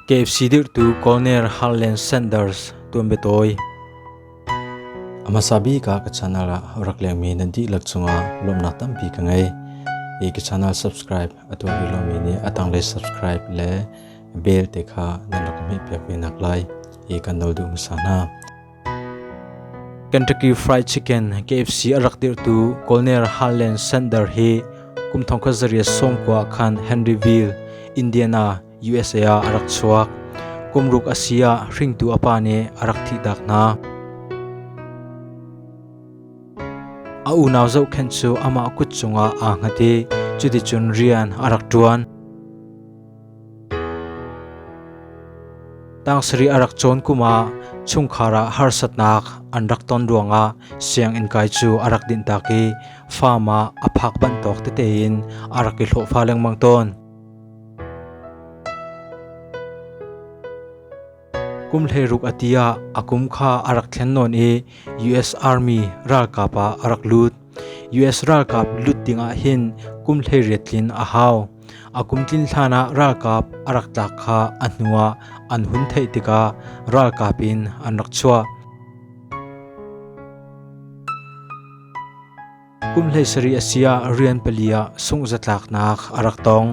KFC dirhtu Colonel Harlan Sanders tuan betawi amasa bi ka ka channel ah rak lengmi nan di lak chunga lomnak tampi ka ngei i ka channel subscribe atu ri lomi ni atang le subscribe le bell te kha nan rak mi pek mi nak lai i kan no du musana Kentucky Fried Chicken KFC a rak dirhtu Colonel Harlan Sanders hi kum thong khat zarih sawm kua khan Henryville, Indiana, USA ah a rak chuak. Kum ruk a si ah hringtu a pa nih a rak thihtak hna. A unau zohkhenh cu amah kut cungah aa hngat i cuticun rian a rak ṭuan. Tang sarih a rak cawn kum ah chungkhar ah harsatnak an rak ton ruangah sianginn kai cu a rak dinh tak i farm ah a phak banh tawk tete in a rak i hlawhfa lengmang tawn. Kum hleiruk a ti ah a kum kha a rak thlen nawn i US Army ralkap ah a rak lut. US ralkap lut ding ah hin kum hleiriat tlin a hau. A kum tlin hlan ah ralkap a rak tlak kha a hnu ah an hun theih tikah ralkap in an rak chuah. Kum hleisarih a si ah rian pali ah sungh zatlaknak a rak tong.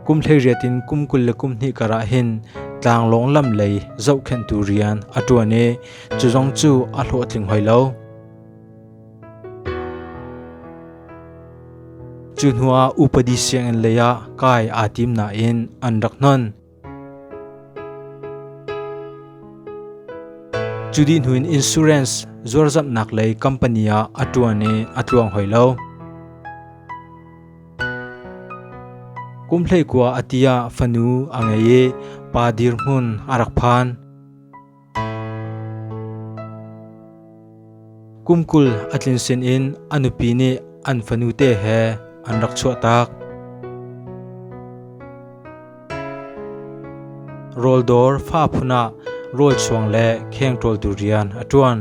Kum hleiriat in kum kul le kum hnih karah hin tlanglawng lam lei zohkhenhtu rian a ṭuan i cu zong cu a hlawhtling hoi lo. Cu hnuah upadi sianginn leiah kai aa tim nain an rak hnon. Cudihnuin insurance zuarzamhnak lei company ah a ṭuan i a tluang hoi lo. Kumhlei kua a ti ah fanu a ngei i pa dirhmun a rak phan. Kum kul a tlin sin in a nupi nih an fanute he an rak chuahtak. Rawldawr fa phun ah rawl chuang le kheng ṭawltu rian a ṭuan.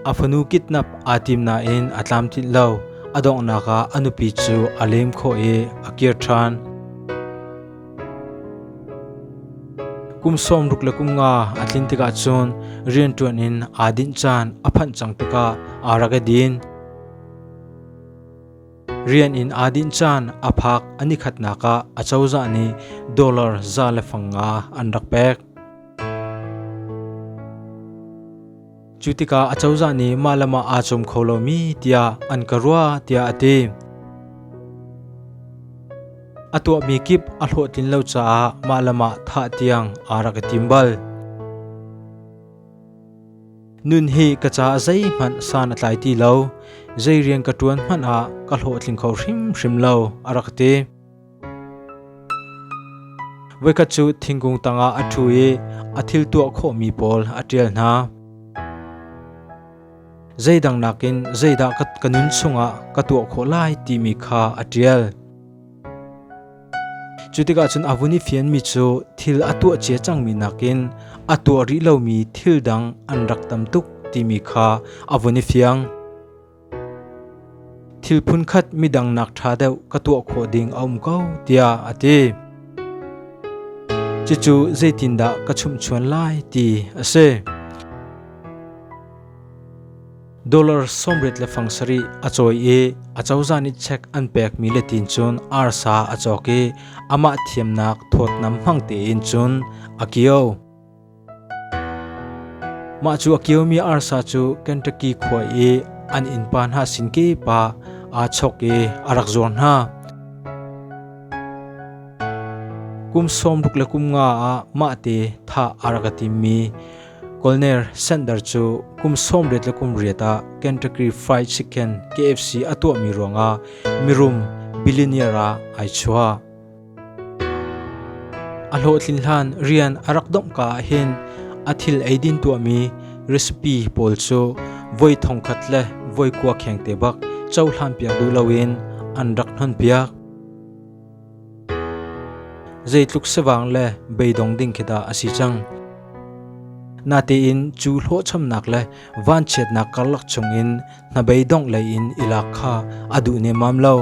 A fanu kidnap aa tim nain a tlamtlinh lo. A donghnak ah a nupi cu a lem khawh i a kir ṭhan. Kum sawmruk le kum nga a tlin tikah cun rianṭuan in aa dinh caan a phanh cang tikah aa rak i din. Rian in aa dinh caan a phak a nikhatnak ah a cozah nih dollar za le fang nga an rak pek. Cu tikah acozah nih mah le mah aa cawm kho lomi tiah an ka ruah tiah a ti. A tuahmi kip a hlawhtlin lo caah mah le mah thah tiang aa rak i tim bal. Nun hi ka caah zeihmanh san a tlai ti lo. Zei rian ka ṭuan hmanh ah ka hlawhtling kho hrimhrim lo a rak ti. Voikhat cu thingkung tangah a ṭhu i a thil tuah khawhmi pawl a ṭial hna. Zeidang nakin zeidah ka nun chungah ka tuah khawh lai timi kha a ṭial. Cu tikah cun a vun i fianmi cu thil a tuah cia cangmi nakin a tuah rih lomi thil dang an rak tam tuk timi kha a vun i fiang. Thil phunkhat midang nak ṭha deuh ka tuah khawh ding a um ko tiah a ti. Cucu zeitindah ka chumhchuan lai ti a si. Dollar sawmrit le fang sarih a cawi i a cozah nih check an pekmi letin cun arsa a cawk i amah thiamnak thawtnam hmang tein cun a kio. Mah cu a kiomi arsa cu Kentucky khua i an innpa hna sin kepa aa chok i a rak zuar hna. Kum sawmruk le kum nga ah mahte thah a rak i timmi Colonel Sanders cu kum sawmriat le kum riat ah Kentucky Fried Chicken KFC a tuahmi ruangah mirum billionaire ah ai chuah. A hlawhtlin hlan rian a rak donghka ahhin a thil eidin tuahmi recipe pawl cu voi thongkhat le voi kua kheng te bak cohlanpiak duh loin an rak hnonpiak. Zeitluk sivang le beidong ding khi dah a si cang. Natein cu hlawhchomnak le vanchiatnak karlak chungin hnabeidong leiin ilak kha a duh nemam lo.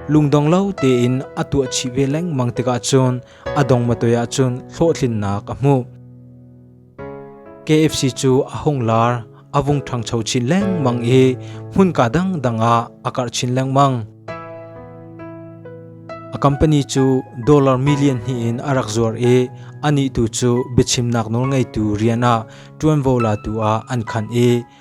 Lungdong lo tein a tuah chih ve lengmang tikah cun a dong matoi ah cun hlawhtlinnak a hmuh. KFC cu a hung lar, a vung ṭhangcho chin lengmang i hmunka dangdang ah a karh chin lengmang. A company cu dollar million hnih in a rak zuar i anih tu cu biachimnak nawl ngeitu rian ah ṭuanvo latu ah an khan i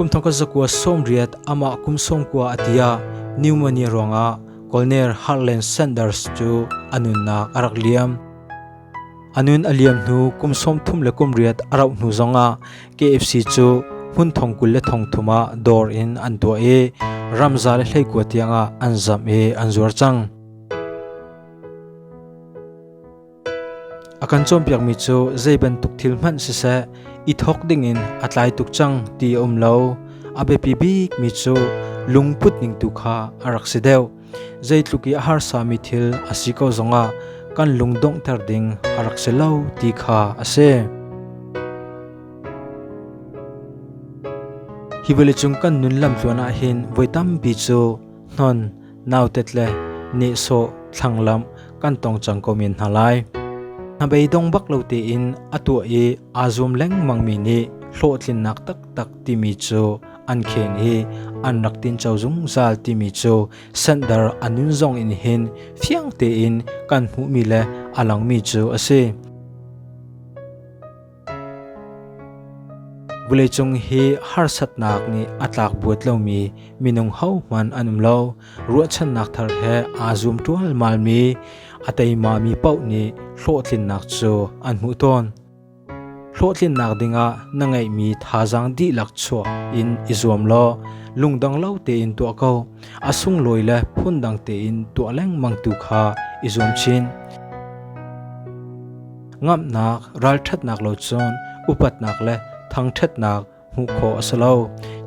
Kumthong ka zakua sawmriat amah kum sawmkua a tia pneumonia ruangah Colonel Harlan Sanders cu a nunnak a rak liam. A nun a liam hnu kum sawmthum le kum riat a rauh hnu zongah KFC cu hmun thong kul le thong thum ah dawr in an tuah i ramza le hleikua tiangah an zamh i an zuar cang. A kan cawnpiakmi cu zei bantuk thil hmanh siseh i thawk dingin a tlai tuk cang ti a um lo. A biapi bikmi cu lungput ning tu kha a rak si deuh. Zeitluk i a harsami thil a si ko zongah kan lung donghter ding a rak si lo ti kha a si. Hi vawleicung kan nun lamtluan ah hin voi tampi cu hnon nautet le nehsawh thlanglamh kan tong cang ko men hna lai. Hnabei dong bak lo tein a tuah i aa zum lengmangmi nih hlawhtlinnak taktak timi cu an khen i an rak tinco zungzal timi cu sandar anun zong in hin fiang tein kan hmuhmi le a langmi cu a si. Vawleicung hi harsatnak nih a tlakbuat lomi minung hohmanh an um lo. Ruahchannak thar he aa zum ṭualmalmi a teimami paoh nih hlawhtlinnak cu an hmuh tawn. Hlawhtlinnak dingah na ngeihmi thazaang dihlak chuak in i zuam law lungdong lo tein tuah ko. A sunglawi le phundang tein tuah lengmang tu kha i zuam chin. Ngamhnak, ralṭhatnak lo cun upatnak le thangṭhatnak hmuh khawh a si lo.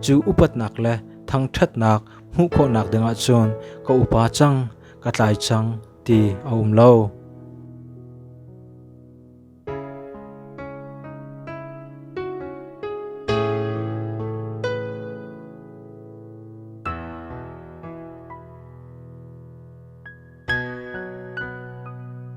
Cu upatnak le thangṭhatnak hmuh khawhnak dingah cun ka upa cang, ka tlai cang ti a um lo.